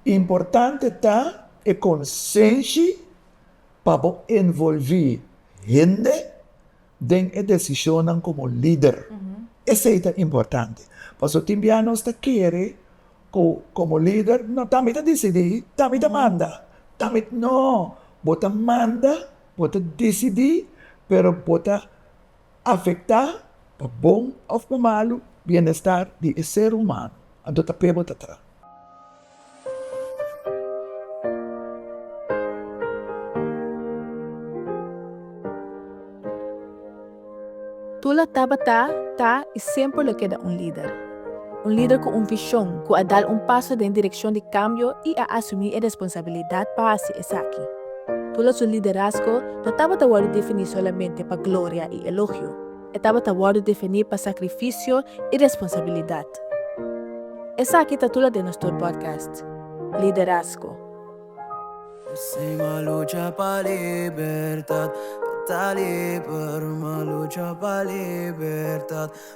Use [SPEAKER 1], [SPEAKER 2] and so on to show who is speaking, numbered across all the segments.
[SPEAKER 1] Importante ta e konsenshi pa bo envolví hende den e desishonnan komo lider. Esei ta importante, paso tin bia nos ta kere ku komo lider, no, ta mi ta disidí, ta mi ta manda, ta mi, no, bo ta manda, bo ta disidí, pero bo ta afectá pa bon of pa malu bienestar di e ser humano anto ta p'e bota tra. Tula tabata, ta i semper lo keda un lider. Un lider ku un vishon, ku a dal un paso den direkshon di kambio i a asumí e responsabilidat pa hasi esaki. Tula su liderazgo no tabata wòrdu definí solamente pa gloria i elogio, e tabata wòrdu definí pa sakrifisio i responsabilidat. Esaki ta tula den nos tur podcast, Liderazgo.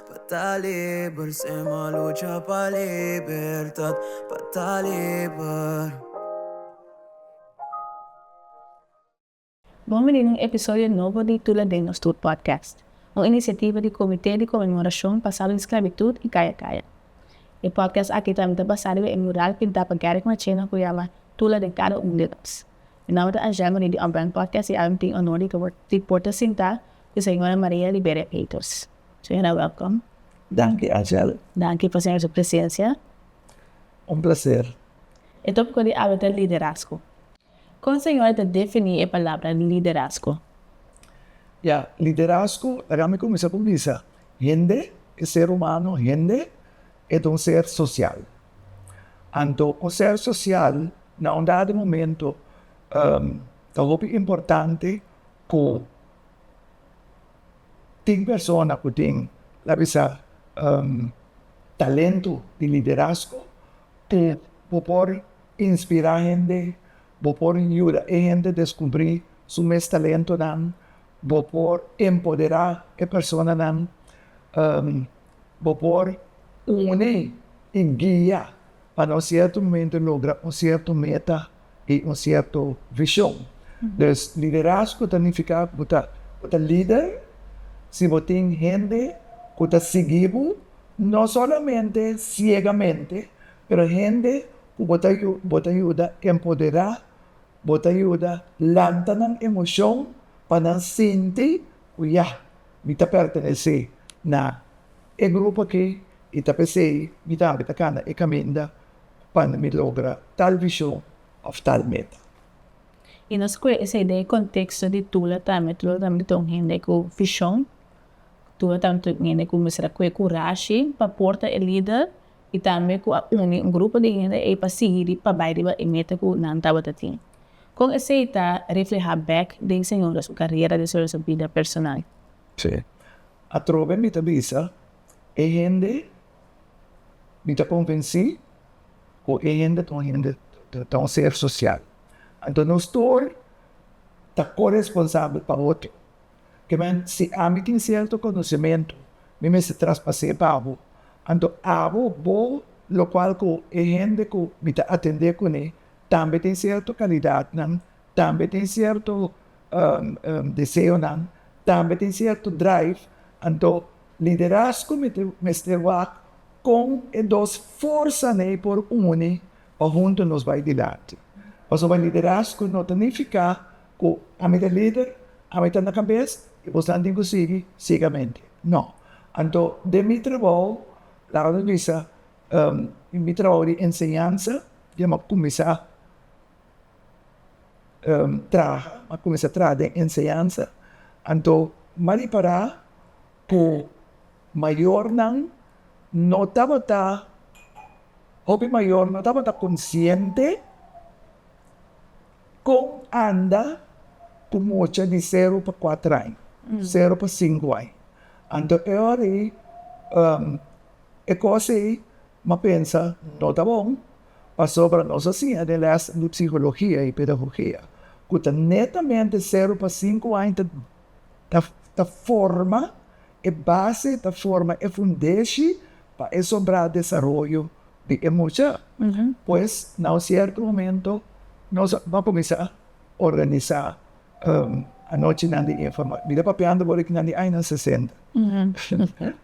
[SPEAKER 1] Pa ta liber sem a lucha pa libertad pa ta liber. Bon bini na un episodio nobo di Tula den nos tur podcast, un inisiativa di Comité di Conmemorashon pa Salo di Sclavitud y Caya Caya. E podcast aki tambe ta basá riba e mural pintá pa Garrick Marchena cu yama Tula den cada un di nos. Mi nomber ta Angelma di The Unbrand Podcast y awe mi tin honor di por ta sintá cu Señora Maria Liberia Peters. Señora welkom. Danki Angel. Danki pa señor su presencia. Un placer. E topico di awe ta liderazgo. Con señor ta defini e palabra liderazgo? Ya, liderazgo laga mi cuminsa cu bisa. Hende, e ser humano hende e ta un ser social. Anto un ser social na un dado momento ta hopi importante cu. Tin persona ku tin ta bisa talentu di liderazgo ku bo por inspirá hende, bo por yuda e hende deskubrí su mes talentunan, bo por empoderá e personanan, bo por uni i guia pa na un sierto momento logra un sierto meta. di un sierto vision. Dus liderazgo ta nifiká ku bo ta bo ta lider si bo tin hende ku ta sigui bo, no solamente siegamente, pero hende ku bo ta yu bo ta yuda empoderá, bo ta yuda lanta nan emoshon pa nan sinti ku ya mi ta pertenesé na e grupo akí i ta p'esei mi tambe ta kana e kaminda pa mi logra tal vision of tal meta. Y nos coge esey den e contexto di Tula tambe, Tula tambe ta un hende cu vision, Tula tambe ta un hende cu mester coge curashi pa porta e lider y tambe cu a uni un grupo di hende ey pa sigui pa bay riba e meta cu nan tabata tin. Con esey ta refleha bek den señora su carrera den señora su bida personal. Sí, atrobe mi ta bisa e hende Mi ta konvensí ku e hende ta un hende, ta un ser sosial. Anto nos tur ta koresponsabel pa otro. Kema, si ami tin sierto konosementu, mi mester traspas'é pa abo. Anto abo, bo, lokual ku e hende ku mi ta atendé kuné tambe tin sierto kalidatnan, tambe tin sierto deseonan, tambe tin sierto drive, anto Liderazgo mester wak kon e dos forsanan ei por uni pa huntu nos bai dilanti. Pasobra liderazgo no ta nifiká ku ami ta lider, ami ta na kabes i bosnan tin ku sigui siegamente. No. Anto den mi trabou, laga mi bisa, mi trabou di enseñansa, di a kuminsá. traha, a cuminsa traha den enseñansa, anto m'a ripara cu mayornan no tabata, hopi mayor no tabata consciente con anda cu mucha di sero pa cuatro aña, sero pa cinco aña, anto e ora ei e cosa ei m'a pensa no ta bon. pasobra nos a siña den lès di psikologia i pedagogia ku ta netamente seru pa sinku aña ta forma e base, ta forma e fundeshi pa e sobrá desaroyo di e mucha. Pues na un sierto momento nos a kuminsá organisá Anochi nan di informashon. Mi ta papiando bo riba nan di añanan sesenta.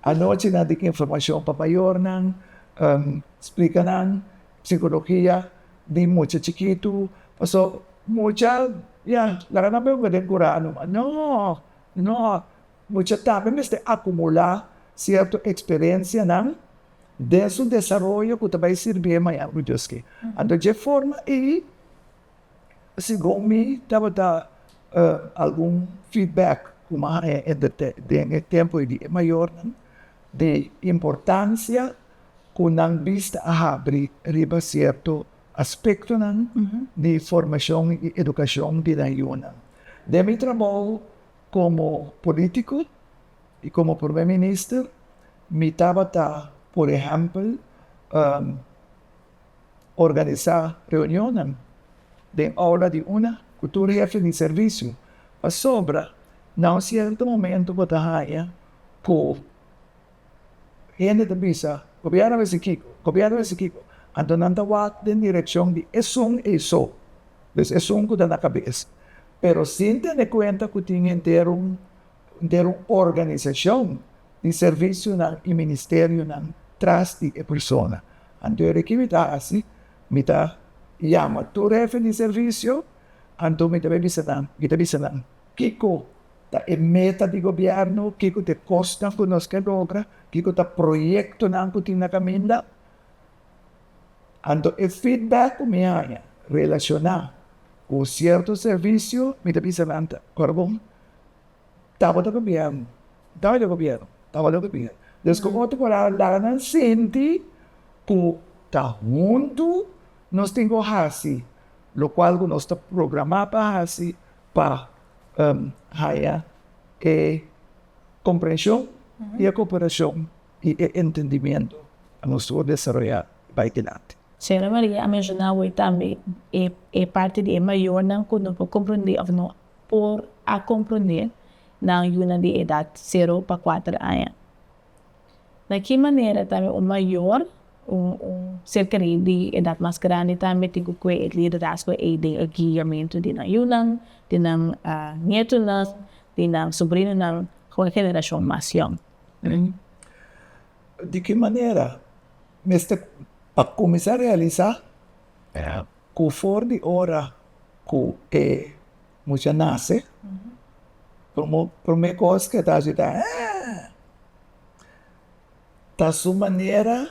[SPEAKER 1] Anochi nan di informashon pa mayornan, splika nan psikologia di mucha chikitu, pasobra mucha ya laga nan por yunga den kura nomas. No, no, mucha tambe mester akumulá sierto eksperensianan den su desaroyo ku ta bai sirbi e mañana ku Dios ke. Anto dje forma ei. Segun mi tabata algun feedback ku mane den e tempu di e mayornan di importansia ku nan bista a habri riba sierto aspektonan di formashon i edukashon di nan yunan. Den mi trabou komo politiko i komo Prome Minister mi tabata, por ehèmpel, organisá reunionnan den ola di una ku tur hefe di servisio, pasobra na un sierto momento bo ta haña ku hende ta bisa, Gobièrnu mester kiko, Gobièrnu mester kiko, anto nan ta wak den direkshon di esun eiso, des esun ku ta na kabes, pero sin tene kuenta ku tin henter un der un organisacion di servicionan y ministerionan tras di e persona. Anto e ki mi ta haci? Mi ta yama tur hefen di servicio, anto mi ta bay bisa nan, mi ta bisa nan kico ta e meta di gobierno, kico ta e cosnan cu nos ke logra, kico ta proyectonan cu tin na caminda. Anto e feedback cu mi haya relaciona cu cierto servicio, mi ta bisa nan ta, Parbon, Tabata gobierno, tabata gobierno, tabata gobierno. Pues ku otro palabra laga nan sinti ku ta huntu nos tin ku hasi lokual ku nos ta programa pa hasi pa haña e komprenshon i e koperashon i e entendimiento pa nos por desaroyá i bai dilanti. Señora Maria a menshoná awor tambe e parte di e mayornan ku no por komprendé òf no por a comprende nan yunan di edad cero pa cuater aña? Na ki manera tambe un mayor, un un cerca di di edad mas grandi tambe tin cu cue e liderazgo ey den e guiamento di nan yunan, di nan nietonan, di nan sobrinonan cu e generacion mas yong? Di ki manera? Mester pa cuminsa realisa. Ku for di ora ku e mucha nase, promé kos ku e ta hasi ta, Eeh! Ta su manera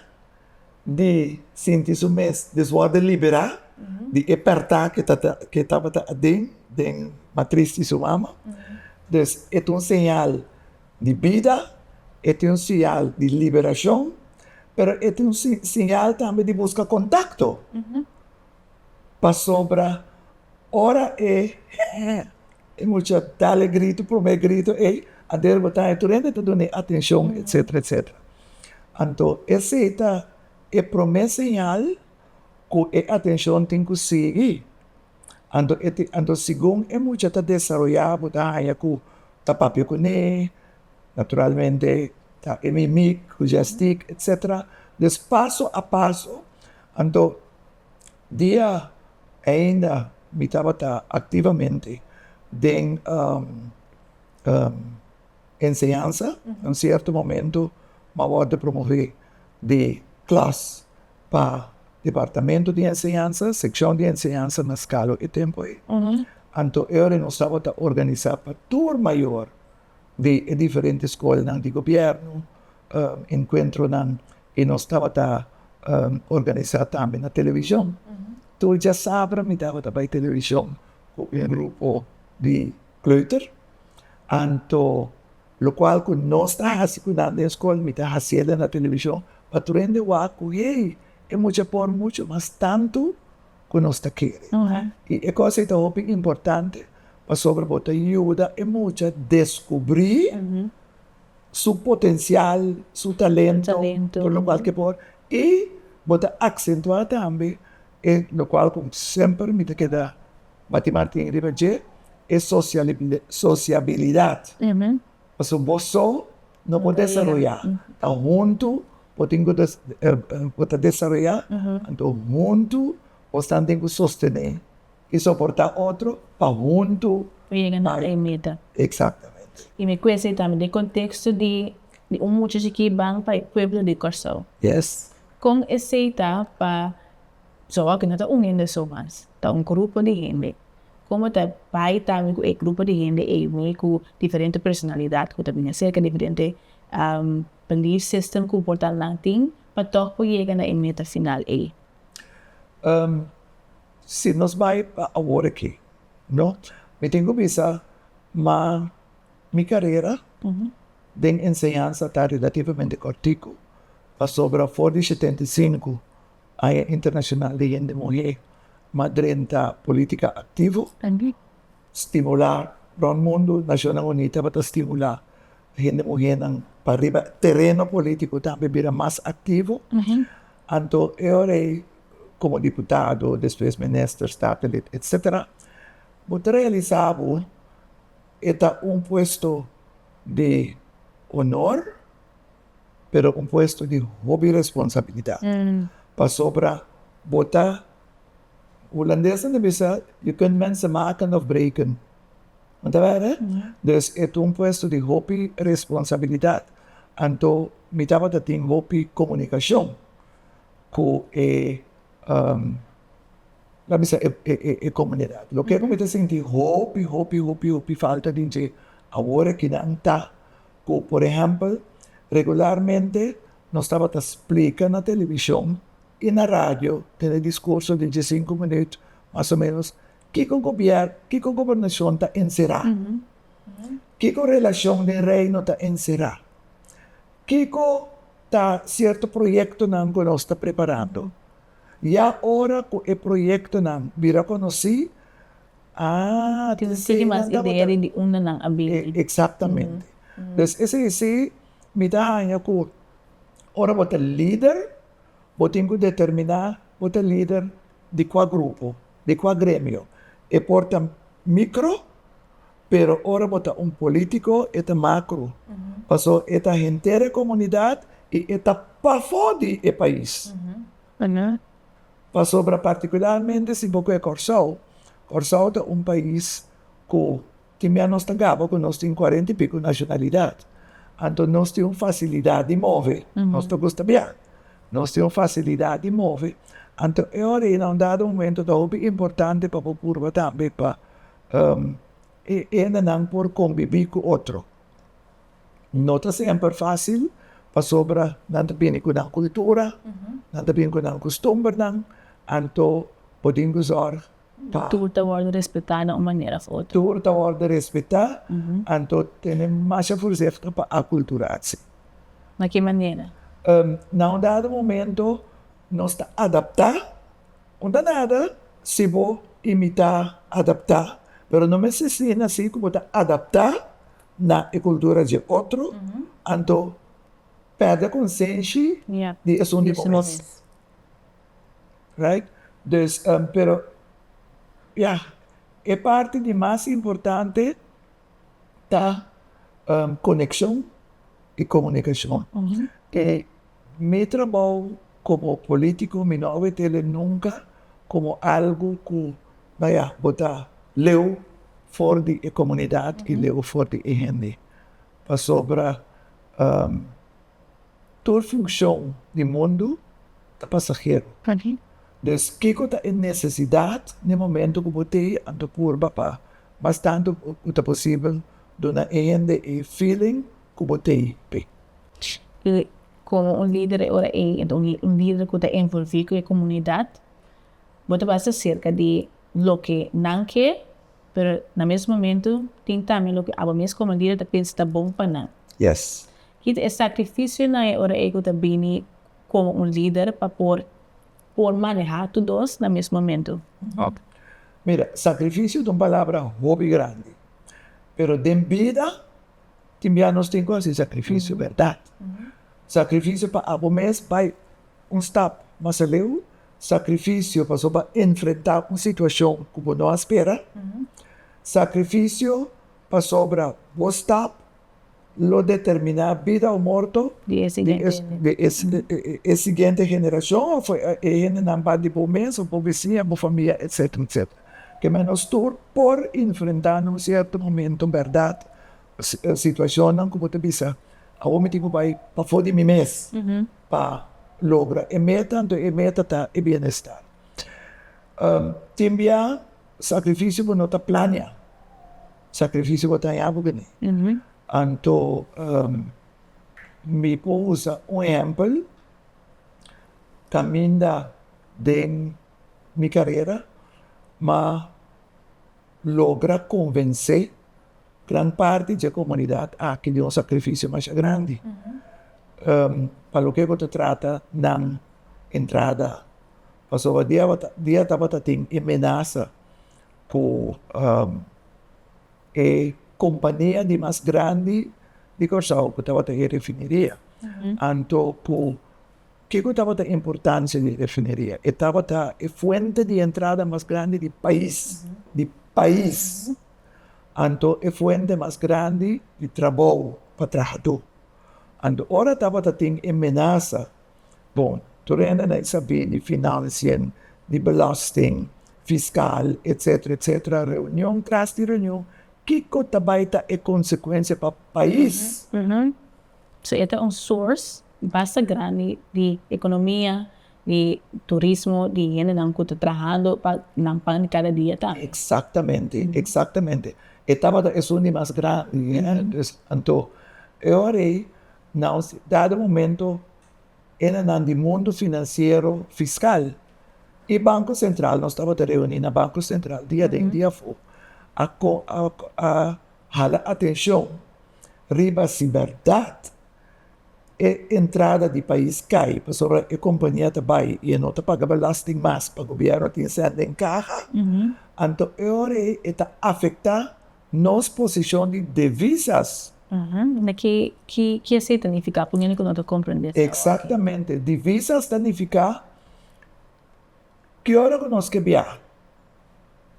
[SPEAKER 1] di sinti su mes deswòrdu liberá di e pèrtá ku e tabata aden den matris di su mama. Pues e ta un señal. di bida, e tin un siñal di liberashon, pero e tin un siñal tambe di buska kontakto, pasobra ora e mucha tal e gritu, promé gritu ei, ader bo ta, e tur hende ta dun'e atenshon, etsetera, etsetera. Anto esei ta e promé siñal ku e atenshon tin ku sigui. Anto e tin, anto segun e mucha ta desaroyá bo ta haña ku ta papia kuné, naturalmente ta e mimik ku dje stik etsetera. Des paso a paso, anto dia ainda mi tabata aktivamente den enseñansa, un sierto momento m'awòrdu promovee di klas. pa departamento di enseñansa, sekshon di enseñansa na Skalo e tempu ei. Anto e ora nos tabata organisá pa tur mayor di e diferente skolnan di gobièrnu enkuentronan i nos tabata organisá tambe na televishon. Tur djasabra mi tabata bai televishon ku un grupo di kleuter. Anto Locual cu nos ta haci cu nan den scol mi ta hacié den na television pa tur hende wak cu hey, e mucha por mucho mas tanto cu nos ta kere. Y e cos ey ta hopi importante pasobra bo ta yuda e mucha descubri su potencial, su talento, tur locual ke por y bo ta acentua tambe e locual cu semper mi ta keda. Ma tin Martin riba dje e sosiabilidat, pasobra bo so no por desaroyá, ta huntu bo tin ku bo ta desaroyá, anto huntu bosan tin ku sostené i soportá otro pa huntu yega na e meta. Eksaktamente. I mi kuesa ei tambe den konteksto di un muchachi ku i ban pa e pueblo di Kòrsou. Yes. Kon esei ta pa Soco aki no ta un hende so mas, ta un grupo di hende. Como ta bay tambe cu e grupo di hende ey mi cu diferente personalidad cu ta bini acerca diferente belief system cu portal nan tin pa toch por yega na e meta final ey? Si nos bay pa awor aki no, mi tin cu bisa ma mi carera den enseñansa ta relativamente cortico pasobra for di shetenta i sinku. Aña Internashonal di Hende Muhé ma drenta polítika aktivo stimulá rònt mundu. Nashonnan Uní tabata stimulá hende muhénan pa riba tereno polítiko ta bira mas aktivo. Anto e ora ei komo diputado, despues minister, statenlid etsetera bo ta realisá bo e ta un puesto di honor. pero un puesto di hopi responsabilidat pasobra bo ta, hulandes ta bisa je kunt mensen maken of breken, no ta wèrdad? Dus e ta un puesto di hopi responsabilidat, anto mi tabata tin hopi komunikashon ku e lami bisa e komunidat, loke ku mi ta sinti hopi hopi hopi hopi falta di dje awor e kinan ta. Ku, por ehèmpel, regularmente nos tabata splika na televishon i na radio den e diskurso di diesinku minüt mas o ménos kiko gobièrnu, kiko gobernashon ta enserá, kiko relashon den Reino ta enserá, kiko ta sierto proyektonan ku nos ta preparando. Ya ora ku e proyektonan bira konosí, Tin sigi mas idea di di unda nan a bini. Exactamente. Pues esa es si mi ta haña cu ora bo ta lider, bo tin cu determina bo ta lider di cua grupo, di cua gremio. E por ta micro, pero ora bo ta un politico e ta macro, pasobra e ta henter e comunidad y e ta pafo di e pais. Pasobra partikularmente si bo kue Kòrsou, Kòrsou ta un pais ku tin mia nos ta gaba ku nos tin kuarenta i piku nashonalidat. Anto nos tin un fasilidat di move. Nos ta gusta bia. Nos tin un fasilidat di move. Anto e ora ei na un dado momento ta hopi importante pa bo purba tambe pa e hendenan por kombibí ku otro. No ta semper fasil pasobra nan ta bini ku nan kultura, nan ta bini ku nan kustumbernan, anto bo tin ku sòrg pa Tur ta wòrdu respetá na un manera òf otro. Tur ta wòrdu respetá, anto tene masha furseht'e pa akulturase. Na ki manera? Na un dado momento. Nos ta adaptá con ta nada si bo imitá, adaptá, pero no mester asina así cu bo ta adaptá na e cultura dje otro anto perde consenshi di esun di bo mes. Right? Dus, pero ya, e parti di mas importante ta coneccion y comunicacion. Mi trabou komo polítiko mi no a wete le nunka komo algu ku bai a bota leu for di e komunidat i leu for di e hende. Pasobra tur funshon di mundu ta pasahero. Dus kiko ta e nesesidat n'e momentu ku bo te anto purba pa mas tantu ku ta posibel duna e hende e feeling ku bo tin p'e. I komo un lider e ora ei, un lider ku ta envolví ku e komunidat, bo ta basa serka di loke nan ke, pero na mes momentu tin tambe loke abo mes komo lider ta pensa ta bon pa nan. Yes. Ki ta e sakrifisionan e ora ei ku ta bini komo un lider pa por por manehá tur dos na mes momentu? Ok. Mira, sakrifisio ta un palabra hopi grandi, pero den bida tin bia nos tin ku hasi sakrifisio bèrdat, sakrifisio pa abo mes bai un stap mas aleu, sakrifisio pasobra bo a enfrentá un situashon ku bo no a spera, sakrifisio pasobra bo stap lo determiná bida o morto di e siguiente generashon òf e hendenan bai di bo mes òf bo besiña, bo famia etcètera etcètera. ke menos tur por enfrentá na un sierto momento, bèrdat? Situashonnan ku bo ta bisa, Awor mi tin ku bai pafó di mi mes pa logra e meta, anto e meta ta e bienestar. Tin bia sakrifisio bo no ta plania, sakrifisio bo ta hañá bo bini. Anto, mi por usa un ehèmpel kaminda den. mi karera, ma logra konvensé gran parti dje komunidat aki di un sakrifisio masha grandi pa loke ku ta trata nan entrada. Pasobra dia tabata tin e menasa ku e kompania di mas grandi di Kòrsou ku tabata e refiniria anto ku Kiko tabata e importansia di e refineria? E tabata e fuente di entrada mas grandi di pais, di pais, anto e fuente mas grandi di trabou pa trahadó. Anto ora tabata tin e menasa, bon, tur hende na e sabé di finansien, di belosting, fiskal, etsetera, etsetera, reunion tras di reunion, kiko ta bai ta e konsekuensia pa pais? So e ta un source basta grandi di economia, di turismo, di hendenan cu ta trahando pa nan pan di cada dia tambe. Exactamente, exactamente. E tabata esun di mas grandi, eh. Dus, anto, e ora ei, na un dado momento, hendenan di mundo financiero, fiscal y Banco Central, nos tabata reuni na Banco Central diaden, diafu, a Hala atencion riba si berdad e entrada di pais cay pasobra e compania ta bay y e no ta paga belasting mas pa gobierno tin sende en caha, anto e ora ey e ta afecta nos posicion di devisas. Mira ki esey ta nifica, poniendo cu no ta comprende esta ora aki. Exactamente, divisas ta nifica ki ora ku nos ke biaha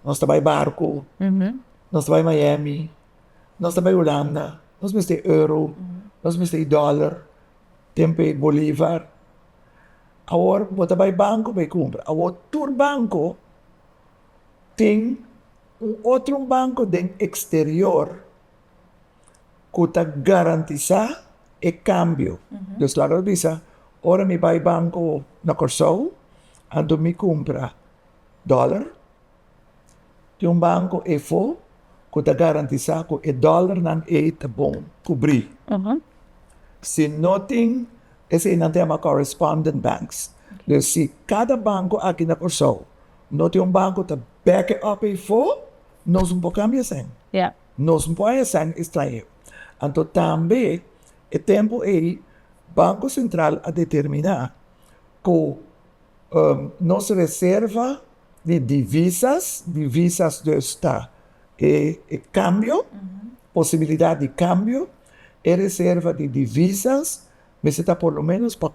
[SPEAKER 1] nos ta bai barku nos ta bai miami nos ta bai hulanda nos mester e euro nos mester e dollar tempo e bolivar awor bo ta bai banko bai kumpra awor tur banko tin un otro banko den eksterior. ku ta garantisá e kambio. Pues laga mi bisa, ora mi bai banko na Kòrsou, anto mi kumpra dòler, tin un banko efo ku ta garantisá ku e dòlernan ei ta bon kubrí. Si no tin, esei nan ta yama correspondent banks. Pues si kada banko aki na Kòrsou no tin un banko ku ta bèk e òf efo, nos no por kambia esei. Nos no por haya sèn estrahero. Anto tambe e tempu ei Banko Sentral a determiná ku nos reserva di divisas, divisas dus ta e kambio, posibilidat di kambio, e reserva di divisas mester ta por lo ménos pa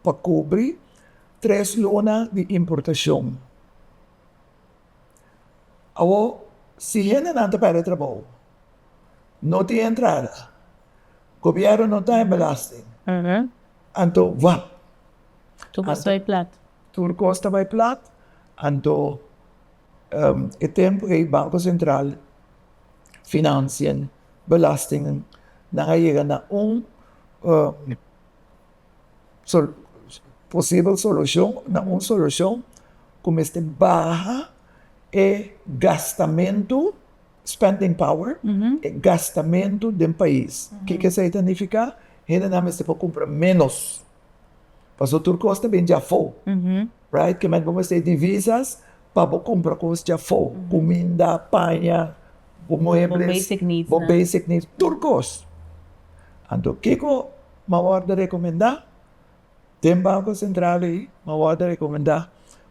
[SPEAKER 1] pa kubri tres luna di importashon. Awor si hendenan ta perde trabou no tin entrada gobierno no ta den belasting anto wap tur cos ta bay plat anto e tempo ey banco central financian belastingnan a yega na un posibel solucion na un solucion cu mester baha e gastamentu spending power e gastamentu den pais kiko esey ta nifica hendenan mester por cumpra menos pasobra tur cos ta bini afo right kico bo mester e divisas pa bo cumpra cos dje afo cuminda paña bo muebles bo basic needs tur cos anto kico Mawòrd ta rekomendá den Banko Sentral ei, mawòrd ta rekomendá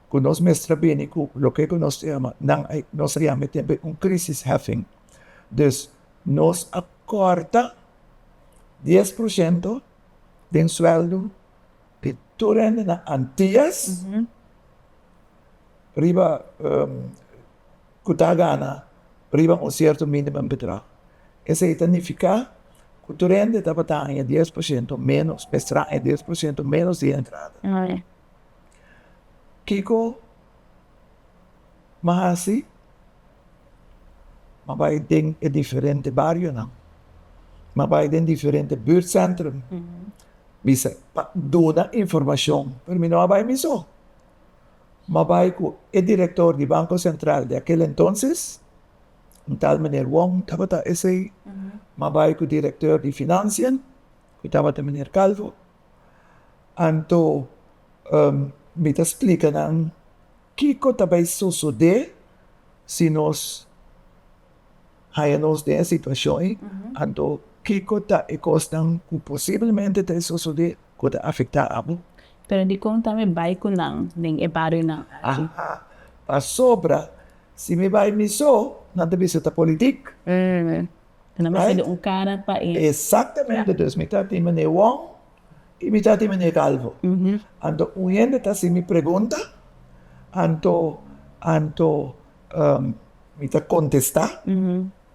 [SPEAKER 1] ku nos mes ta bini ku loke ku nos ta yama, nan ei, nos ta yama e tempu ei un krisischeffing. Dus nos a kòrta dies por shento den suèldo di tur hendenan Antias. riba ku ta gana riba un sierto minimum bedrag esei ta nifiká ku tur hende tabata haña dies por shento ménos mester haña dies por shento ménos di entrada kiko m'a hasi m'a bai den e diferente barionan m'a bai den diferente bùrtsèntrum bisa pa duna informashon mi no a bai mi so. ma bai cu e director di Banco Central di aquel entonces, un tal meneer Wong tabata esey, ma bai cu director di Financia, cu tabata meneer Calvo, anto mi ta splica nan kico ta bay sosode si nos. haya nos den e situacion ei, anto kico ta e cosnan cu posiblemente ta e sosode cu ta afecta abo? Pero dicon ta mi bay cu nan den e barionan aki? Pasobra si mi bay mi so, nan ta bisa ta politic. Ta na mester di un cara pa e. Exactamente, dus mi ta di meneer Wong y mi ta di meneer Calvo. Anto un hende ta haci mi pregunta, anto, anto. Mi ta kontestá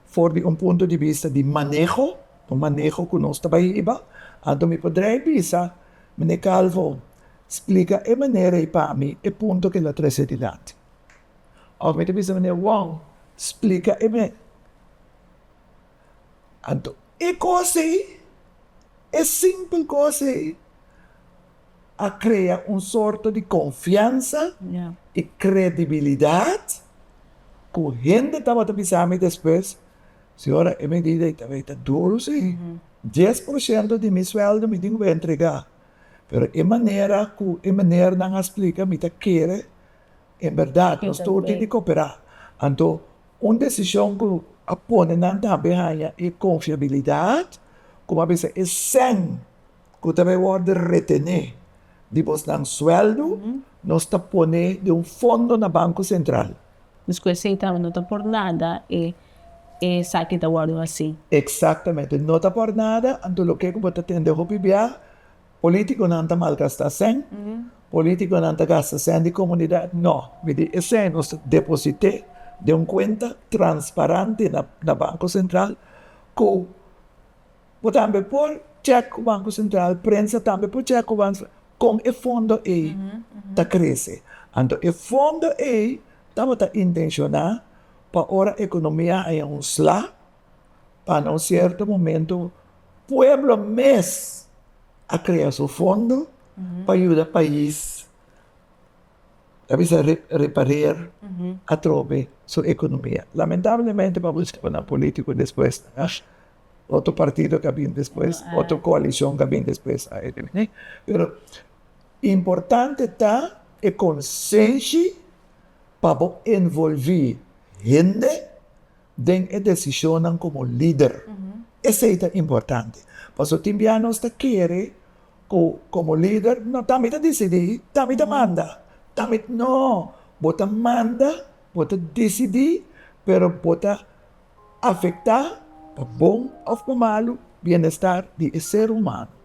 [SPEAKER 1] for di un punto di bista di maneho, un maneho ku nos ta bai hiba. Anto mi por drei bisa, Mene Calvo, splika e manera ei pa mi, e punto ke lo trese dilanti. Òf mi ta bisa Mene Wong, splika e manera Anto, e kos ei, e simpel kos ei a krea un sorto di konfiansa i kredibilidat ku hende tabata bisa mi despues, Señora, e medida ei tabata ta duru si, dies por shento di mi sueldo mi tin ku ba entregá, pero e manera ku e menernan a splika mi ta kere En berdad, nos tur tin di cooperá. Anto, un decision cu a pone nan tambe haña e confiabilidad, como a bisa e cen cu ta bay worde retené di bosnan sueldo, nos ta pone den un fondo na Banco Central. Nos cu esey tambe no ta por nada e esaki ta worde hací. Exactamente, no ta por nada. Anto, loke cu bo ta tende hopi bia? Politiconan ta malgasta sèn, politiconan ta gasta sèn di comunidad. No, mi di e sèn nos ta deposit'é den un cuenta transparante na Banco Central cu bo tambe por check cu Banco Central, prensa tambe por check cu Banco Central con e fondo ei ta crece. Anto e fondo ei tabata intencioná pa ora economia haya un sla pa na un sierto momento pueblo mes a krea su fondo pa yuda pais ta bisa reparer atrobe su ekonomia lamentablemente pa wush kaba nan politico despues otro partido ta bini despues otro coalicion ta bini despues pero importante ta e conseshi pa bo envolvi hende den e desishonnan komo lider. Esei ta importante, pasobra tin biaha nos ta kere ku komo lider, no, ta mi ta disidí, ta mi ta manda, ta mi, no, bo ta manda, bo ta disidí, pero bo ta afektá, pa bon òf pa malu, bienestar di e ser humano.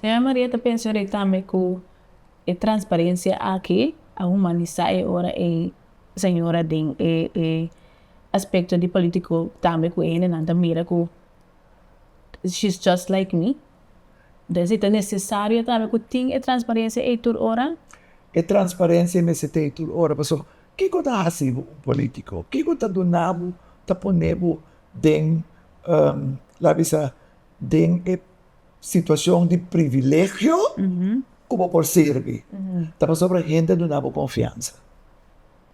[SPEAKER 1] Señora Maria ta pension'é tambe ku e transparensia aki a humanisá e ora e señora den e e aspekto di polítiko tambe ku e hendenan ta mira ku she's just like me. Entonces si ta nesesario tambe ku tin e transparensia ei tur ora? E transparensia mester ta ei tur ora pasobra kiko ta hasi bo un polítiko? Kiko ta duna bo, ta pone bo den la bisa den e. situacion di privilegio cu bo por sirbi ta pasobra hende a duna bo confiansa,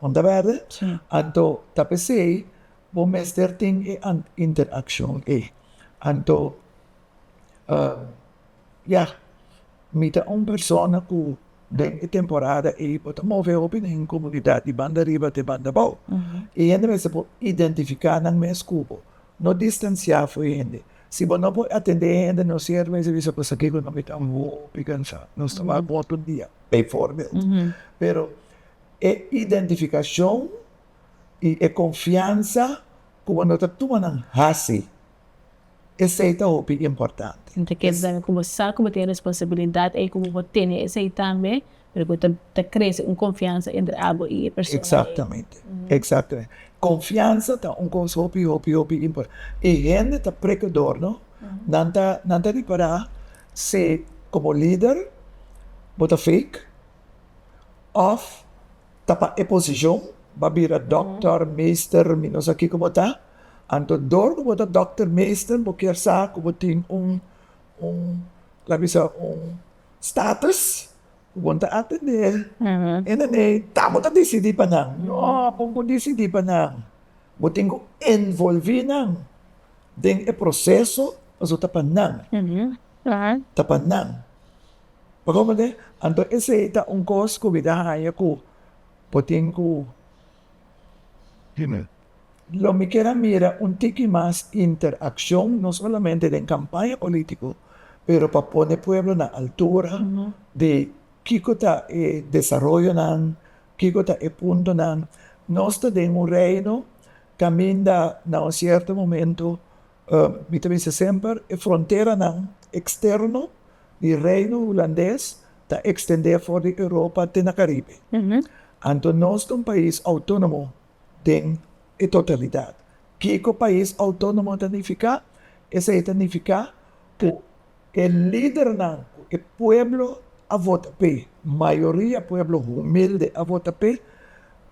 [SPEAKER 1] no ta werde? Anto ta p'esey bo mester tin e interaccion ey, anto ya mi ta un persona cu den e temporada ey bo ta move hopi den e comunidad di banda riba te banda abao y hende mester por identifica nan mes cu bo, no distancia fu hende. Si bo no por atendé hende nos siervo e servicio pues aki cu no mi ta hopi cansá. Nos ta wak bo otro dia, bijvoorbeeld. Pero e identificacion i e confiansa cu bo no ta tuma nan haci, esei ta hopi importante. Mi ta keda cu bo sa cu bo tin e responsabilidad ei cu bo por tene esei tambe Pero cu ta crece un confiansa entre abo y e persona. Exactamente, exactamente. Confiansa ta un cos hopi, hopi, hopi importante. E hende ta precador, no? Nan ta, nan ta ripara si como lider bo ta fake of ta pa e posicion bo a bira doctor, meester, mi no sa kico bo ta. Anto door cu bo ta doctor, meester bo kier sa cu bo tin un, un, laga mi sa, un. Status ku bon ta atendé e nenei ta bo ta disidí pa nan. No bon ku disidí pa nan, bo tin ku envolví nan den e proseso pasobra ta pa nan, ta pa nan. Bo comprendé? Anto esei ta un kos ku mi ta haña ku bo tin ku. Lo mi kier a mira un tiki mas interakshon, no solamente den kampaña polítiko, pero pa pone pueblo na altura di kiko ta e desaroyonan, kiko ta e puntonan. Nos ta den un reino kaminda na un sierto momento. Mi ta bisa semper, e fronteranan eksterno di Reino Hulandes ta ekstendé for di Europa te na Karibe. Anto nos ta un pais outónomo den e totalidat. Kiko pais outónomo ta nifiká? Esei ta nifiká ku e lidernan ku e pueblo a vota p'e, mayoria pueblo humilde a vota p'e,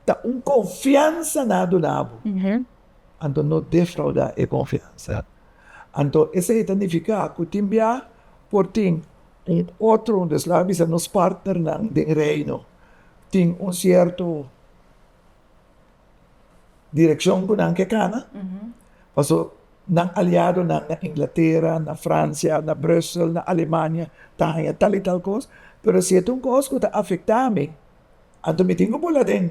[SPEAKER 1] ta un konfiansa na dunabo. anto no defraudá e konfiansa. Anto esei ta nifiká ku tin bia por tin un otro un desla bisa nos partnernan den Reino tin un sierto direkshon ku nan ke kana. Paso nan aliadonan na Inglatera, na Fransia, na Brussel, na Alemania ta haña tal i tal kos, pero si e ta un kos ku ta afektá mi, anto mi tin ku pula den.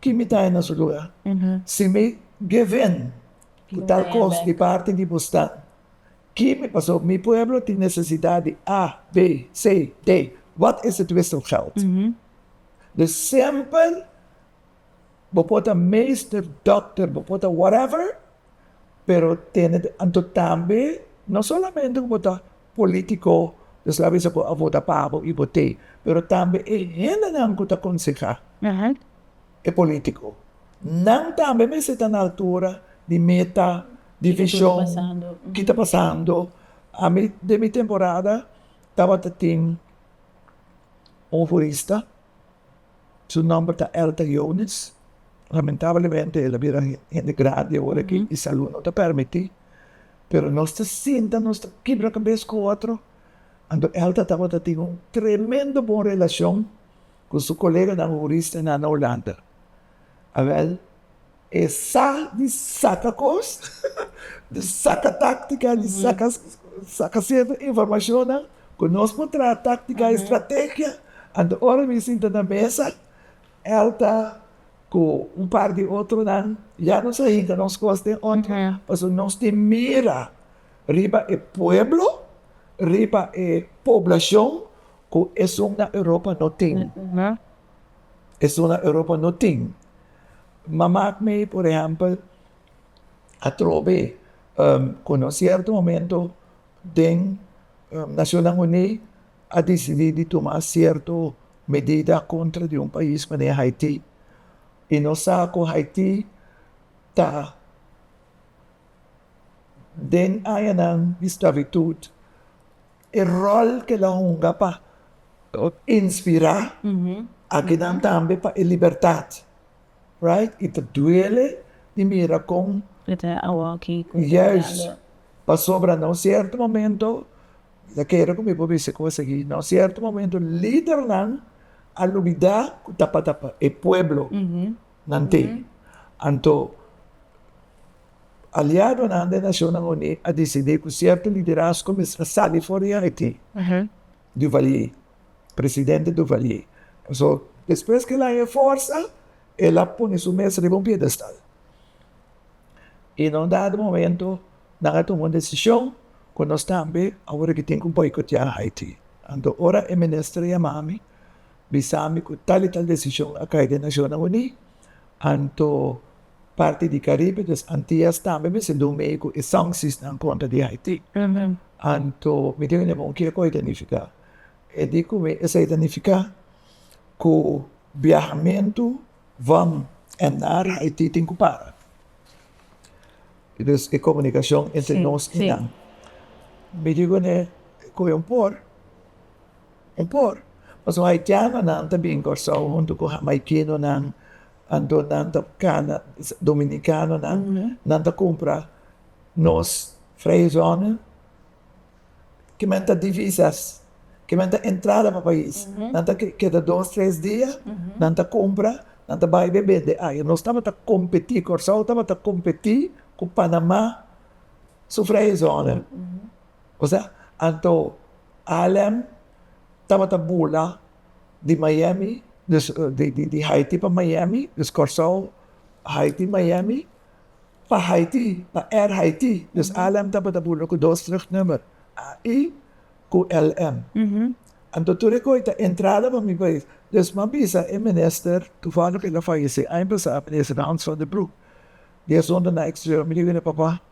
[SPEAKER 1] Ki mi ta henda su luga? Si mi geven ku tal kos di parti di bo sta, ki mi pasó? Mi pueblo tin nesesidat di A, B, C, D. Wat e situashon di gèld? Dus semper bo por ta meester, dòkter, bo por ta whatever, pero tene anto tambe no solamente ku bo ta politiko des labi esei bo a vota pa bo i bo te pero tambe e hendenan ku ta konseha e politiko nan tambe mester ta na altura di meta di vishon kita pasando ami den mi temporada tabata tin un hurista. Su nòmber ta Elton Jones. Lamentablemente el a bira hende grandi awor aki i salù no ta permití, pero nos ta sinta, nos ta kibra kabes ku otro. Anto Elton tabata tin un tremendo bon relashon ku su koleganan hourista nan na Hulanda. Awèl E sa di saka kos, di saka táktika, di saka sierto informashonnan ku nos por traha táktika i strategia. Anto ora mi sinta na mesa Elta ku un par di otronan ya nos a hinka nos kos den otro pasobra nos tin mira riba e pueblo, riba e poblashon ku esun na Europa no tin. esuna Europa no tin. Ma mak mi por ehèmpel atrobe ku na un sierto momento den Nacionnan Uní a disidí di tuma sierto medida akontra di un pais manera Haití i no sa ku Haití ta den añanan di sklabitut E ròl ku e lo hunga pa inspirá akinan tambe pa e libertat, right? I ta duele di mira kon yes, pasobra na un sierto momento, ta kere ku mi por bisa ku a sigui, na un sierto momento lidernan a lubidá ku tabata pa e pueblo, nan tin. Anto, aliadonan den Nacionnan Uní a disidí cu cierto liderazgo mester sali for di Haití, Duvalier, presidente Duvalier. So, despues cu el a haña forsa, el a pone su mes riba un piedestal. Y na un dado momento nan a tuma un decision cu nos tambe awor a tin cu boicotea Haití. Anto, ora e minister a yama mi. Bisambi cu tal y tal decision a cay den Nacionnan Uní, anto parti di Caribe, dus Antillas tambe mester dun meyu cu e sancciesnan contra di Haiti. Anto mi tin un hermon kier cu a identifica. E di cu mi, esey ta nifica cu biahamentu van en nar Haiti tin cu para. Y dus e comunicacion entre nos y nan. Mi digo ne cu un por. Un por, pasobra haitianonan ta bin Kòrsou huntu ku hamaikenonan, anto nan ta kana dominikanonan, nan ta kumpra nos vrijzongen, ke men ta divisas, ke men ta entrada pa pais, nan ta keda dos tres dia, nan ta kumpra, nan ta bai be bende aya. Nos tabata kompetí, Kòrsou tabata kompetí ku Panamá su vrijzongen. Osa, anto Haarlem tabata bula di Miami, dus di Haiti pa Miami, dus Corsou, Haiti, Miami, pa Haiti, pa Air Haiti, dus Haarlem tabata bula ku dos terug number, HI ku LM. Anto tur e koi ta entrada pa mi pais, dus m'a bisa e minister, tuvallig el a fayesé aña pasá, minister Hans van der Broek, di asuntu na exterior, mi di wini, Papa,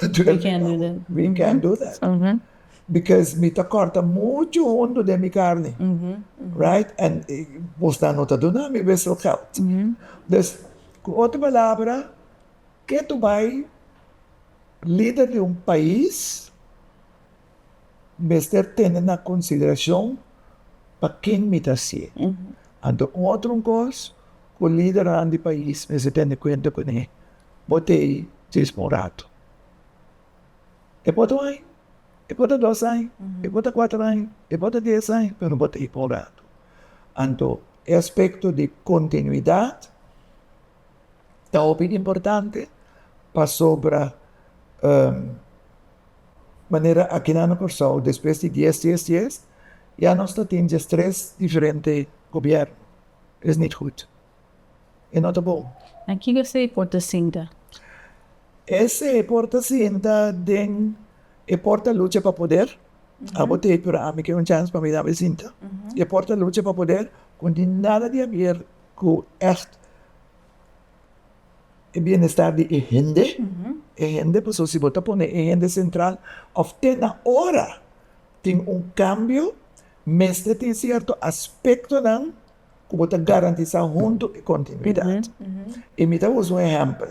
[SPEAKER 1] We can't do that. We can't do that. Because mi ta corta mucho hondo den mi carne, right? And Bosnan no ta duna mi wissel geld. Dus, cu otro palabra, ke tu bay lider di un pais mester tene na konsideracion pa ken mi ta haci'e. Anto un otro cos cu lidernan di pais mester tene cuenta cu ne bo ta ey djes pa un rato, e por ta un año, e por ta dos año, e por ta cuater año, e por ta dies año, pero bo ta ey pa un rato. Anto e aspecto di continuidad. ta hopi importante pasobra manera aki nan na Kòrsou despues di dies dies dies ya nos ta tin dies tres diferente gobièrnu es nit gud e no ta bon. Na kiko esei por ta sinta? Esei por ta sinta den e por ta lucha pa poder abo t'ei pero ami ke un chans pa mi dame sinta e por ta lucha pa poder con di nada di abier ku ègt e bienestar di e hende, e hende paso si bo ta pone e hende sentral òf te na ora tin un kambio mester tin sierto aspektonan ku bo ta garantisá huntu e kontinuidat. I mi ta usa un ehèmpel.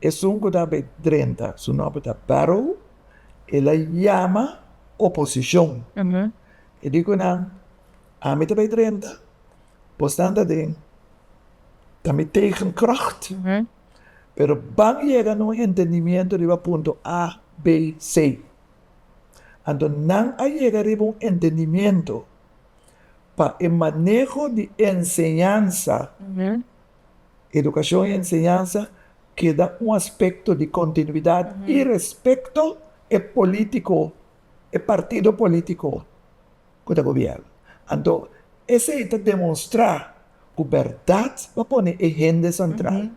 [SPEAKER 1] Esun ku ta bay drenta su nomber ta Barrow el a yama oposicion e di ku nan ami ta bay drenta bosnan ta den ta mi tegen kracht pero ban yega na un entendimiento riba punto a b c anto nan a yega riba un entendimiento pa e maneho di enseñansa. Edukashon i enseñansa keda un aspekto di kontinuidat i respekto e polítiko, e partido polítiko ku ta gobièrna. Anto esei ta demostrá ku bèrdat pa pone e hende sentral.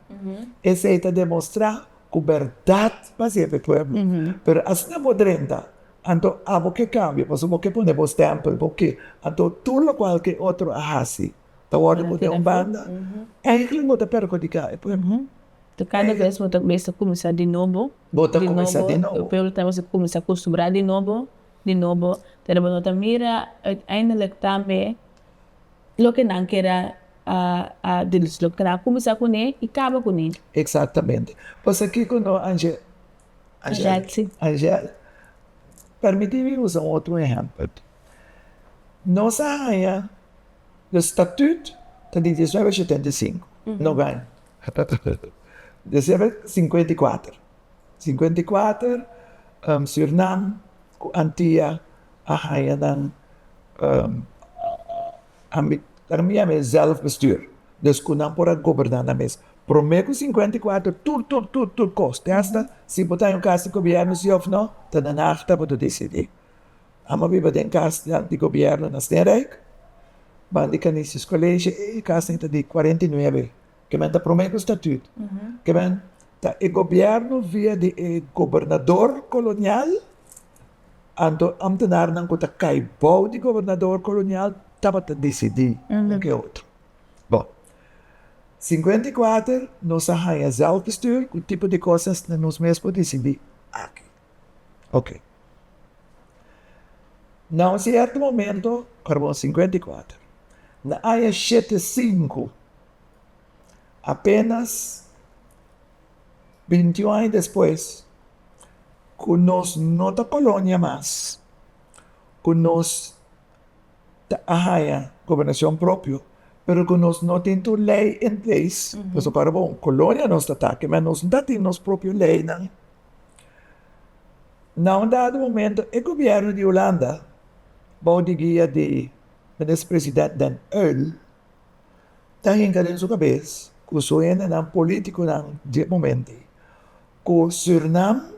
[SPEAKER 1] Esei ta demostrá ku bèrdat pa sirbi e pueblo. Pero asina bo drenta, anto abo ke kambia, pasobra bo ke pone bo stèmpel, bo ke, anto tur lokual ke otro a hasi. Ta wordo bo den un banda eigenlijk bo ta perhudiká e pueblo. Ta kada bes bo ta mester kuminsá di nobo, bo ta kuminsá di nobo, e pueblo ta mester kuminsá akustumbrá di nobo, di nobo, pero bo no ta mira uiteindelik tambe loke nan ker a a dirishi, loke nan a kuminsá kuné i kaba kuné. Eksaktamente, pasobra kiko no Angel? Angelsi. Angel, permití mi usa un otro ehèmpel. Nos a haña. E statüt ta di dies nuebe shetenta i sinku, no gaña. Dies nuebe sinkuenta i kuater, sinkuenta i kuater Sürnam ku Antia a haña nan autonomia mes, zelfbestuur, dus ku nan por a goberná nan mes. Promé ku sinkuenta i kuater tur tur tur tur kos, te hasta si bo ta haña un kas di gobièrnu si òf no, ta den akta bo ta disidí. Amo biba den kas di di gobièrnu na Steenrijk, ban di Canisius College. E kasnan ta di kuarenta i nuebe. Kimen ta promé ku statüt. Kimen ta e gobièrnu via di e gobernador kolonial, anto amtenarnan ku ta kai bou di gobernador kolonial tabata disidí un ku e otro. Bon, sinkuenta i kuater nos a haña zelfbestuur, ku tipo di kosas nos mes por disidí aki? Oke. Na un sierto momento, Carbon sinkuenta i kuater, na aña shete sinku, apenas binti un aña despues ku nos no ta kolonia mas, ku nos. ta a haña gobernacion propio, pero cu nos no tin tur ley en place, pasobra para bon colonia nos ta taki, ma nos no ta tin nos propio leynan, na un dado momento e gobierno di Hulanda, bao di guia di Minister President Den Uyl, ta hinca den su cabes cu su hendenan, politiconan di e momentnan, cu Surinam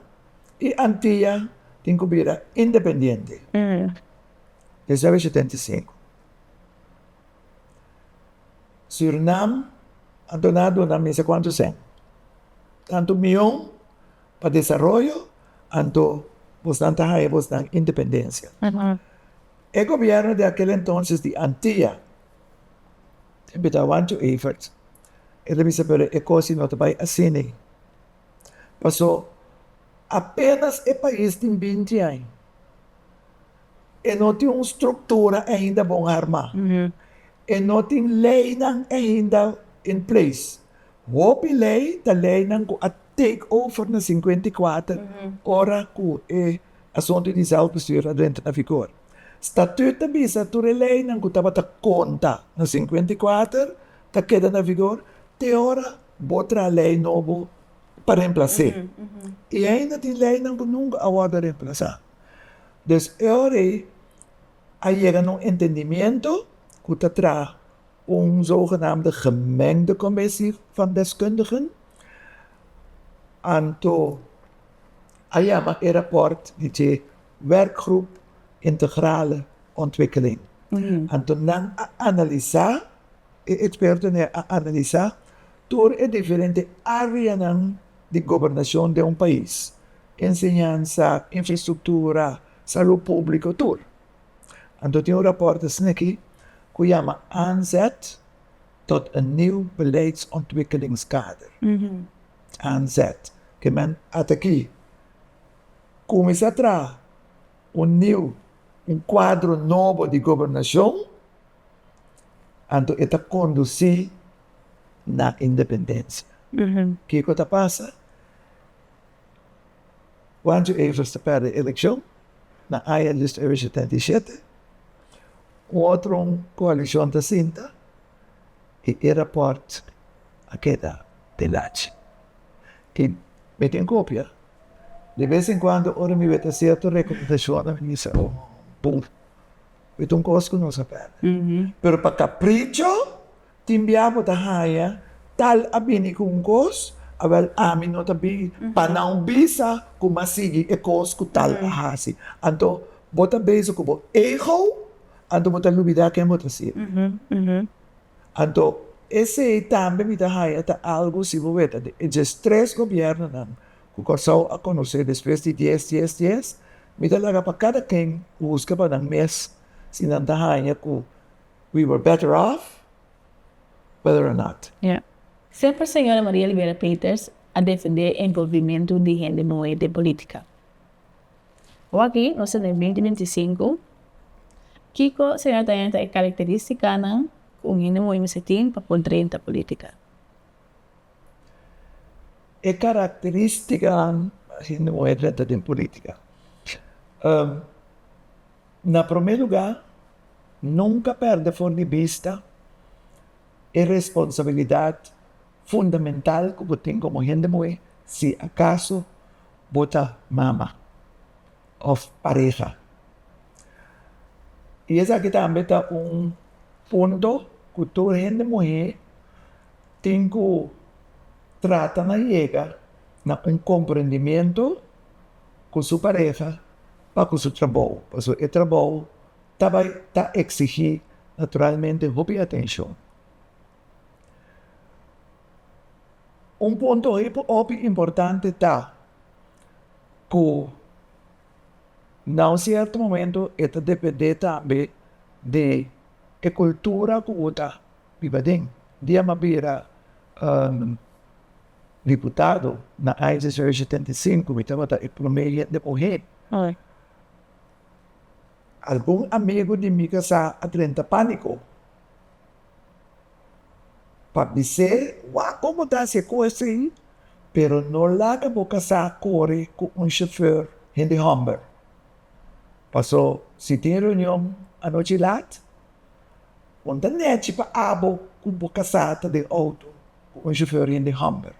[SPEAKER 1] y Antilla tin cu bira independiente, 1975, Surinam a torná a duna mester kuantu sèn, tantu mion pa desaroyo anto bosnan ta haña bosnan independensia. E gobièrnu di akel entonses di Antia ta invitá Juan T. Evert, el a bisa pero e kos no ta bai asina, pasó. Apenas e pais tin binti aña, e no tin un struktura ainda bon armá, e no tin leinan ainda in place. Hopi lei ta leinan ku a take over na sinkuenta i kuater ora ku e asuntu di zèlfbestuur a drenta na vigor. Statüt ta bisa tur e leinan ku tabata konta na sinkuenta i kuater ta keda na vigor te ora bo traha lei nobo. pa remplas'é. I ainda tin leinan ku nunka a wòrdu remplasá. Des e ora ei a yega na un entendimiento ku ta traha un zogenaamde gemengde kommisie van deskundigen. Anto a yama e rapòrt di dje Werkgroep Integrale Ontwikkeling. Anto nan a analisá, e ekspertonan a analisá Tur e diferente áreanan di gobernashon den un pais, enseñansa, infrastruktura, salú públiko, tur. Anto tin un rapòrt esn'akí ku yama Aanzet tot een nieuw beleidsontwikkelingskader, Aanzet, ke men at aki kuminsá traha un nieuw, un kuadro nobo di gobernashon. Anto e ta kondusí na independensia. Kiko ta pasa? Juancho Evers ta pèrdè e elekshon na aña di dos mil shetenta i shete. Un otro koalishon ta sinta i e rapòrt a keda delachi. I mi tin kopia. Di bes en kuando ora mi weta sierto rekomendashonnan mi bisa, Oh, bun. E ta un kos ku nos a pèrdè. Pero pa kapricho tin bia bo ta haña tal a bini ku un kos, awèl ami no ta bin pa nan bisa ku m'a sigui e kos ku tal a hasi. Anto bo ta bezig ku bo ego, anto bo ta lubidá ken bo ta sibi. Anto esei tambe mi ta haña ta algu si bo weta e dje tres gobièrnunan Ku Kòrsou a konosé despues di dies dies dies, mi ta laga pa kada ken buska pa nan mes si nan ta haña ku we were better off whether or not. Semper Señora Maria Libera Peters a defendé envolvimentu di hende muhé den polítika. Awaki nos ta den binti binti sinku, kiko Señora ta henta e karakterístikanan ku un hende muhé mester tin pa por drenta polítika? E karakterístikanan di muher sèntra den pulítika, na promé lugá, nunka pèrdè for di bista e responsabilidat fundamental ku bo tin komo hende muhé si akaso bo ta mama òf pareha. I esaki tambe ta un punto ku tur hende muhé Tin cu trata na yega na un comprendimiento cu su pareha pa cu su trabou, pasobra e trabou ta bay ta exigi naturalmente hopi atencion. Un punto hopi importante ta cu na un cierto momento e ta depende tambe di e cultura cu bo ta Riba den dia m'a bira diputado na aña deshocho di setenta i sinku mi tabata e promé hende muhé. Algun amigu di mi kasá a drenta pániko pa bis'é, Wak komo ta hasi e kos ei, pero no laga bo kasá kore ku un shofèr hende hòmber. Pasó si tin reunion anochi lat, Con ta nechi pa abo cu bo casata den auto cu un shofer rende homber.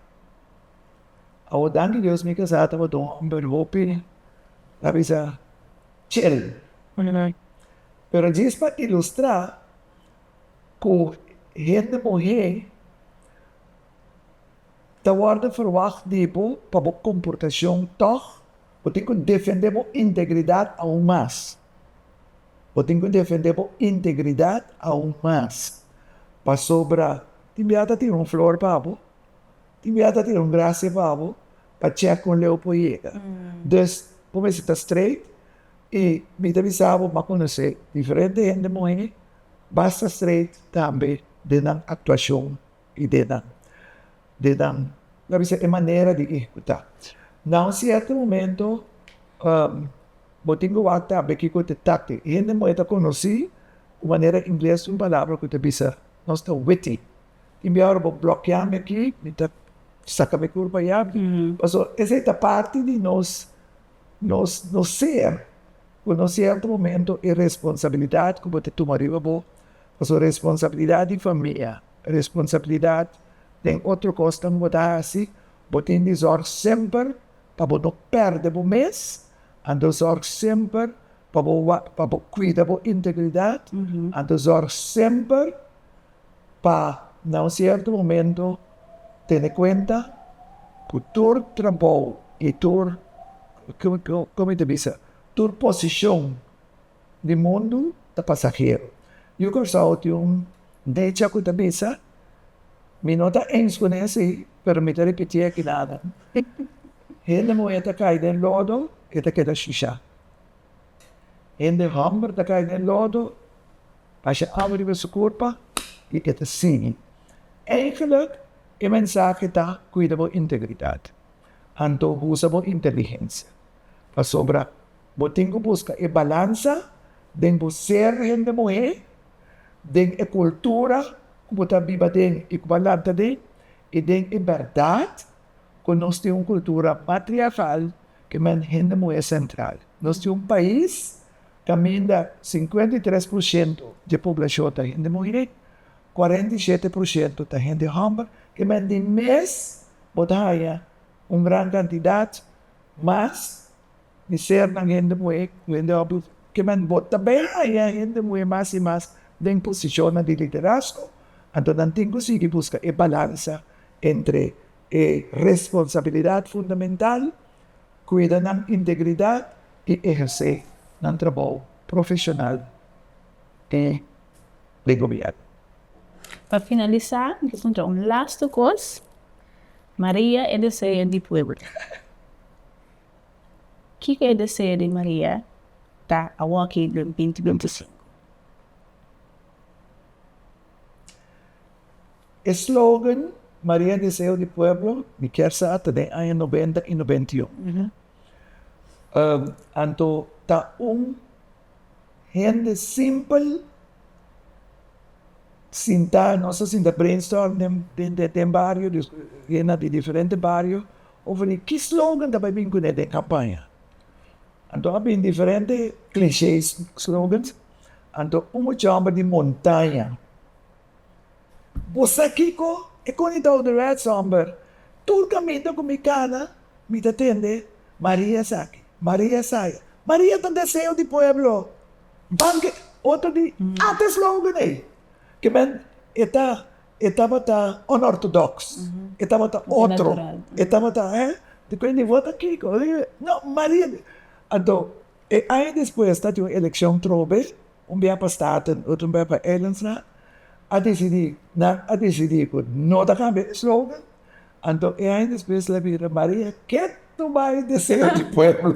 [SPEAKER 1] Awo danki Dios mi casa taba den homber hopi ta bisa chel. Pero djis pa ilustra cu hende muher ta wordo verwacht di bo pa bo comportacion tog bo tin cu defende bo integridad aun mas. Bo tin ku defendé bo integridat aun mas, pasobra tin bia ta tin un flor pa bo, tin bia ta tin un grasia pa bo pa chèk kon leu por yega. Dus, bo mester ta streit, i mi ta bisa bo bo a konosé diferente hende muhé basta streit tambe den nan aktuashon. i denan denan lo a bisa e manera di ehecuta na un cierto momento bo tin cu wak tambe kico ta tacti hende moe ta conoci cu manera ingles un palabra cu ta bisa nos ta witty tin be ora bo blokia mi aki mi ta saca mi curpa ya pasobra esey ta parti di nos nos nos ser cu na un cierto momento e responsabilidad cu bo ta tuma riba bo pasobra responsabilidad di famia Responsabilidat den otro kos ta bo ta hasi, bo tin di zòrg semper pa bo no pèrdè bo mes, anto zòrg semper pa bo pa bo kuida bo integridat, anto zòrg semper pa na un sierto momento tene kuenta ku tur trabou i tur, kòm mi ta bisa, tur posishon. di mundu ta pasahero. Yu Kòrsou tin un dicha ku ta bisa, Mi no ta ens ku nes ei, pero mi ta repití aki nada, Hende muhé ta kai den lodo, e ta keda shushá. Hende hòmber ta kai den lodo, pasha awa riba su kurpa, i e ta sigui. Eigenlik, e mensahe ta, Kuida bo integridat. Anto usa bo inteligensia, pasobra Bo tin ku buska e balansa den bo ser hende muhé den e kultura ku bo ta biba den i ku bo a lanta den i den e bèrdat ku nos tin un kultura matriarkal kaminda hende muhé sentral. Nos tin un pais kaminda sinkuenta i tres por shento di e poblashon ta hende muhé, kuarenta i shete por shento ta hende hòmber, kaminda di mes bo ta haña un gran kantidat mas. di ser nan hende muhé ku hende hòmber kimen bo ta bay haya hende muhé mas i mas den posishonnan di liderazgo, anto nan tin ku sigui buska e balansa entre e responsabilidat fundamental, kuida nan integridat i ehersé nan trabou profeshonal i di gobièrnu. Pa finalisá mi ta puntra un lastu kos, Maria e deseyo di pueblo. Kiko e deseo di Maria ta awo aki den binti binti sinku? E slogan Maria deseo di pueblo mi kier sa ta den aña nobenta i nobenta i un. Anto ta un hende simpel sinta nos a sinta brainstorm den bario den diferente bario Over di ki slogan ta bai bin kuné den kampaña? Anto a bin diferente klishé slogans. Anto un mucha homber di montaña. Bo sa kiko? E koni ta ouderwets homber. Tur kaminda ku mi kana mi ta tende Maria esaki, Maria esaya. Maria ta deseo di pueblo. Banke otro di ata slogan ei ke men e ta E tabata onortodoks, e tabata otro, e tabata eh, di ku e nivo ta kiko? No, Maria di. Anto, e aña despues ta tin un elekshon trobe, un biaha pa Staten, otro biaha pa Ellensrad, a desidí, nan a desidí ku no ta kambia e slogan, anto e aña despues el a bira Maria ke tu bai deseo di pueblo.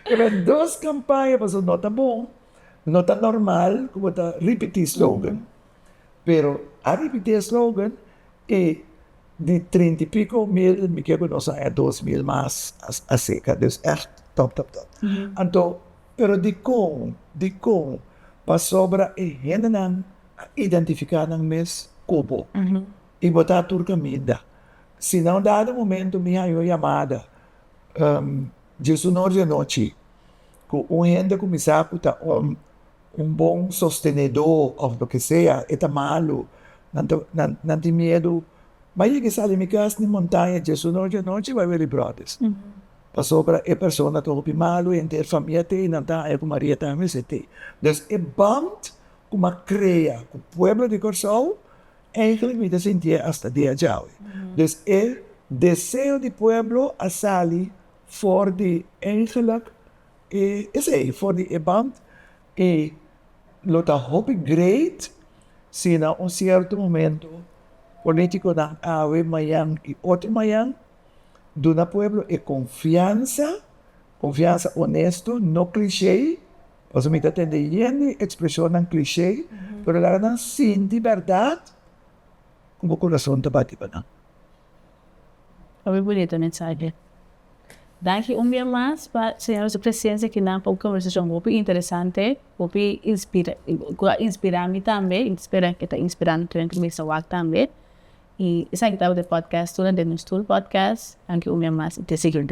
[SPEAKER 1] Ke bai dos kampaña pasobra no ta bon. No ta normal ku bo ta ripití slogan, pero a ripití e slogan i di trinta i piko mil mi ke ku nos a e dos mil mas a seka, dus èrt tòp tòp tòp. Anto pero dikon dikon pasobra e hendenan a identifiká nan mes ku bo i bo ta tur kaminda. Si na un dado momentu mi haña un yamada dje su nor di anochi. cu un hende cu mi sa cu ta un bon sostenedo of loke sea e ta malu, nan tin miedu bay yega sali mi cas nin montaña djesu nochi anochi bay wiri brotes pasobra e persona ta hopi malu y henter famia te y nan ta haya cu Maria ta haya esey, dus e band cu mi a crea cu pueblo di Corsou eindelijk mi ta sintié hasta diajawe, dus e deseo di pueblo a sali for di engelak e esei for di e band y lo ta hopi great si na un cierto momento politiconan awe mayan y otro mayan duna pueblo e confiansa, confiansa honesto no cliche pasobra mi ta tende yende expresionnan cliche pero laga nan sinti berdad como corazon ta bati pa nan. Muy bonito mensahe. Danki un bia mas pa señora su presencia aki nan pa un conversacion hopi interesante, hopi inspira cu a inspira mi tambe y spera cu ta inspira tur nan cu bisa wak tambe y esaki tabata e podcast tur den nos tur podcast. Danki un bia mas y te seguir.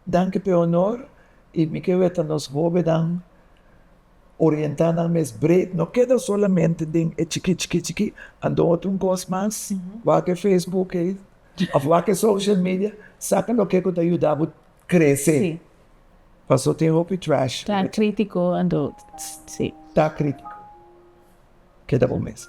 [SPEAKER 1] Danki pe honor y mi ke weta nos hobennan orientá nan mes bred, no keda solamente den e chikí chikí chikí, a dor di un kos mas, wak e Facebook ei òf wak e social media, saka loke ku ta yuda bo krese, paso tin hopi trash, ta kritiko, ta kritiko, keda bo mes.